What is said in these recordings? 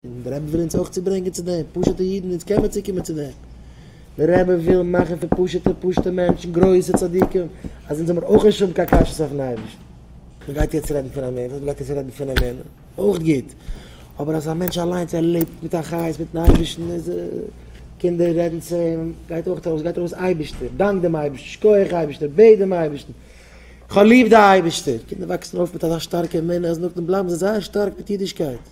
און דער רבי וויל אונז אויך צוברענגען צו דעם, פשוט'ע אידן, אונז קען מען צוקומען צו דעם, דער רבי וויל מאכן פון פשוט'ע פשוט'ע מענטשן גרויסע צדיקים, אז אונז זאל מיר אויך נישט האבן קיין קשיות אויפן אייבערשטן. מען גייט יעצט רעדן פון אמונה, מען גייט יעצט רעדן פון אמונה, אויך גוט, אבער אז א מענטש אליינס ער לעבט מיט א חיות מיטן אייבערשטן, איז ער, קינדער רעדן צו אים, גייט אויך ארויס, גייט ארויס אייבערשטער, דאנק דעם אייבערשטן, שקויעך אייבערשטער, בעט דעם אייבערשטן, כ'האב ליב די אייבערשטער, קינדער וואקסן אויף מיט אזא שטארקע אמונה, אז נאכדעם בלייבן זיי זייער שטארק מיט אידישקייט.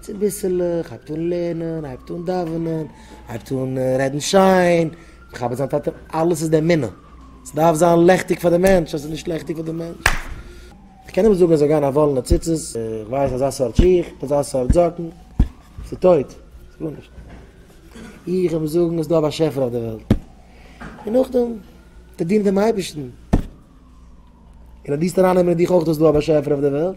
צוביסלעך הייבט אן לערנען, הייבט אן דאווענען, הייבט אן רעדן שיין, מכבד זיין טאטע, אלעס איז די אמונה. ס'דארף זיין לעכטיג פאר די מענטש, אז ס'איז נישט לעכטיג פאר די מענטש, איך קען אים זאגן ער זאל גיין אין א וואלענע ציצית, איך ווייס אזא סארט שיך, אזא סארט זאקן, ס'איז טויט, ס'איז גארנישט. איך אים זאגן עס איז דא א באשעפער אויף די וועלט. און נאכדעם וועט ער דינען דעם אייבערשטן. און אז דו וועסט ארייננעמען אין דיך אויך אז ס'איז דא א באשעפער אויף די וועלט,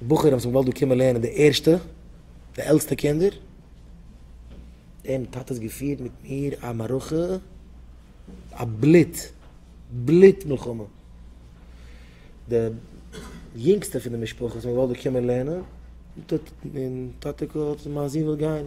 די בחורים וואס מ'וואלט דא קומען לערנען די ערשטע, די עלטסטע קינדער, דעם טאטע האט געפירט מיט מיר א מערכה, א בלוט בלוט מלחמה, די יונגסטע פון די משפחה וואס מ'וואלט דא קומען לערנען, טאטע האט, טאטע האט, מיין זון וויל גיין,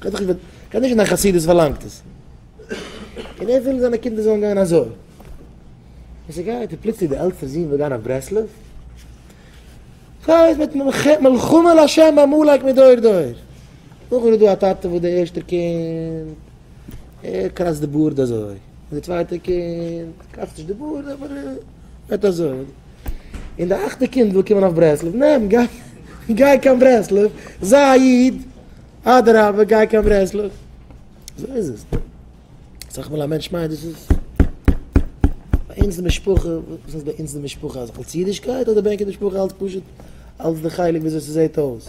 כ'האב דאך נישט דיין חסידות פארלאנגט עס. און ער וויל זיינע קינדער זאלן גיין אזוי. און ס'גייט און פלוצלינג די עלטסטע זון וויל גיין אויף ברסלב. ס'הייסט מיט מלחמה לשם בעמלק מדור דור. נאכדעם איז דא א טאטע וואס די ערשטע קינד ער קראצט די בארד אזוי. און די צווייטע קינד קראצט נישט די בארד אבער. זעט אויס און די אכטע קינד וויל קומען אויף ברסלב, נעם גיי, גיי קיין ברסלב, זיי א איד, אדרבה גיי קיין ברסלב, אזוי איז עס, אסאך מאל א מענטש מיינט דאס איז ביי אונז די משפחה, וואס הייסט ביי אונז די משפחה, אלץ אידישקייט אדער בענקען די משפחה אלץ פשוט אלץ די חלק וויאזוי ס'זעט אויס.